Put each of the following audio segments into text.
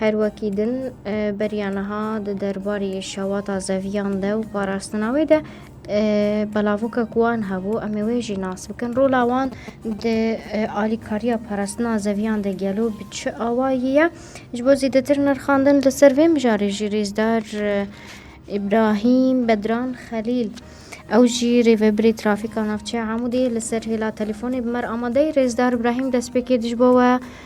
Her wekî din beriya niha di derbarê şewata zeviyan de û parastina wê de belavokek wan hebû em ê wê jî nas bikin. Rola wan di alîkariya parastina zeviyan de gelo bi çi awayî ye ji bo zêdetir nirxandin li ser vê mijarê jî rêzdar İbrahim Bedran Xelîl ew jî rêvebirê trafîka navçeya Amûdê li ser hêla telefon bi mer amadeyî rêzdar İbrahim destpêkê dij bo we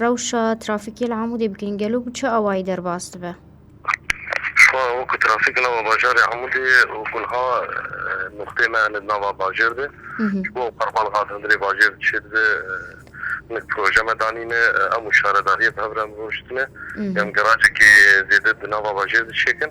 Rewşa trafîkê li Amûdê bikin gelo bi çi awayî derbas dibe? Şifa wekî trafîk li nava bajarê Amûdê û ku niha nuqteyê me hene di nava bajêr de ji bo qurbanxaz hundirê bajêr dişê dibe hinek proje me danîne em û şaredariyê bi hev re em rûniştine em geracekê zêde di nava bajêr dişêkin.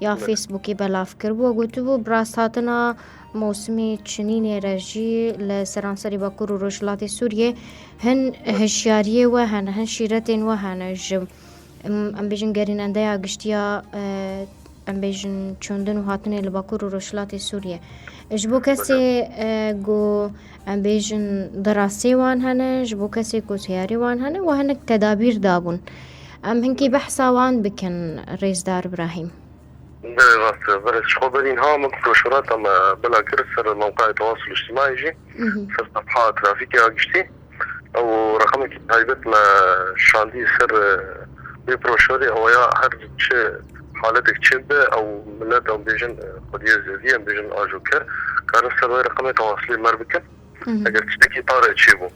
Ya Facebookê belav kiribû gotibû, bi rasthatina mosmê çinînê re jî li seranserî Bakur û Rojhilatê Sûriyê hin hişyariyê we hene, hin şîretên we hene ji em bêjin gerînendeya giştiya em bêjin çûndin û hatinê li Bakur û Rojhilatê Sûriyê. Ji bo kesê ku Em bêjin di rastiyê wan hene ji bo kesê ku teyarî wan hene û hinek tedabîr dabûn. Em hinkî behsa wan bikin Rêzdar Brahîm. Belê rast e berê ji xwe berîn ha min broşurata me bila kir ser mewqeya tewasûl îctîmaî jî ser sefha trafîkê a giştî ew reqemekî taybet me şandî ser wê broşurê ew ya her çi Haletek çêb be ew milet em bêjin xwediyê zêdî em bêjin ajo ker karin ser wê reqemê tewasilê mer bikin eger tiştekî pare çêbû.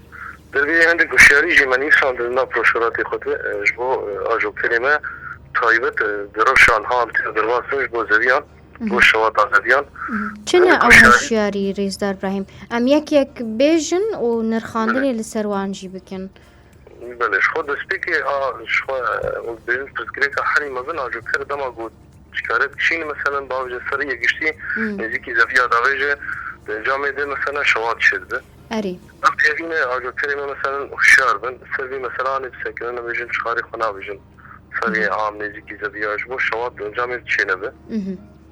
Divê hindek hişyarî jî me nîsan di nav proşoratê xwe de ji bo ajo kerê me taybet di rewşa niha em têne derbas bin ji bo zêdîyan ji bo şewata zêdîyan. Çi ne ew hişyarî Rêzdar Brahîm? Em yek yek bêjin û nirxandinê li ser wan jî bikin. Belê, ji xwe destpêkê a ji xwe wek bêrîn pirsgirêka herî mezin a jo ker dema ku çîkare dişîn meselen bi avcê serî yê giştî nêzîkî zeviya davê jê di camê de meselen şewat çê dibe. Erê. Ev têvîne a jo kerê me meselen hişyar bin ser vî meselanê bi sekinî nebêjin çixarê xwe nabêjin seriyê am nêzîkî zeviya ji bo şewat di camê de çê nebe.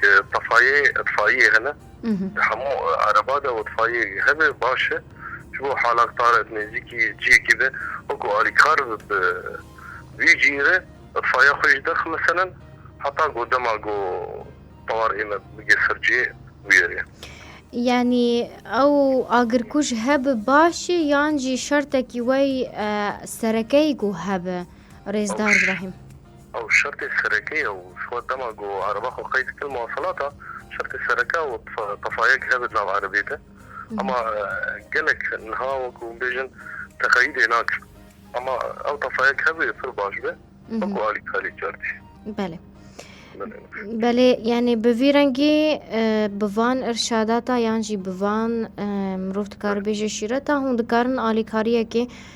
Ke tefayê itfaiyê hene di hemû ereba de û tefayê hebe baş e ji bo halaktar e di nêzîkî ciyekî de wekû alîkar bi bi wî cî re itfaiya xwe jî derx meselin heta ku dema ku tewar hême bige ser ciyê bûyerê. Yanî ew agirkuj hebe baş e yan jî şertekî wey serekeyî ku hebe Rêzdar Brahîm? Ew şertê sereke ye û ji xwe dema ku ereba xwe qey dikir muwaselata şertê sereke û tefayek hebe di nav erebê de. Ama gelek niha wekû hûn bêjin teqeyîdê nakin. Ama ew tefayek hebe pir baş be wekû alî kalî cerdî. Belê. Belê yanî bi vî rengî bi van irşadata yan jî bi van mirov dikaribêje şîreta hûn dikarin alîkariyekê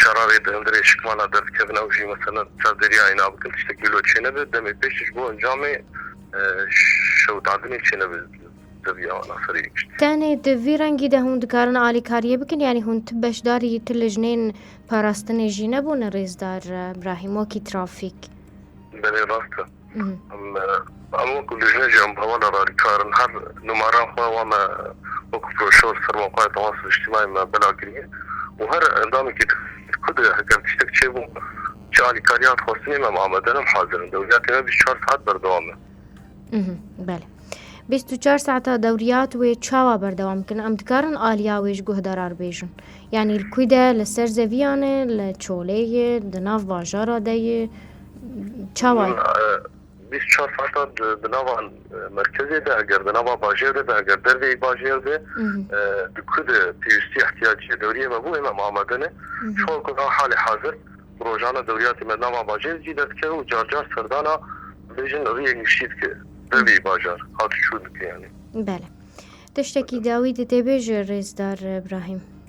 Şerarê di hundirê şikman a derdikevin ew jî meselen di ser deriyayê nabikin tiştekî wilo çênebe demê pêş jî ji bo encamê şewitandinê çênebe zeviya wan a serê yê giştî. Tenê di vî rengî de hûn dikarin alîkariyê bikin yanî hûn ti beşdarî ti lijnên parastinê jî nebûne rêzdar Brahîm wekî trafîk? Belê rast e. Em wek lijneca muzamana radîkal in her nûmaran xwe wan me wek broşor serma xwe ya temasê niştimanî me bela kiriye û her endamekî dixwest ku di heger tiştek çêbû çi alîkariyan dixwestinê em amade in, em hazir in. Dewriyatê me bîst û çar saet berdewam e. Belê. Bîst û çar saeta dewriyat wê çawa berdewam kin? Em dikarin aliya wê ji guhdarar bêjin. Yanî li kû de li ser zeviyan e, li çolê ye, di nav bajara de ye. Çawa? Bîst çar saetan di nava merkezê de eger di nava bajêr de be eger dervê yê bajêr be di ku de pêwîstî îhtîyacîyê dewrîyê me bû ême amade ne. Ji wan ku a halê hazir bi rojane dewrîyatê me di nava bajêr zî derdikeve û car car serdana bibêjin rîyê niştî dike dervê yê bajar hat û çû dike yanî. Bele. Tiştekî dawî di tê bê ji Rêzdar Brahîm?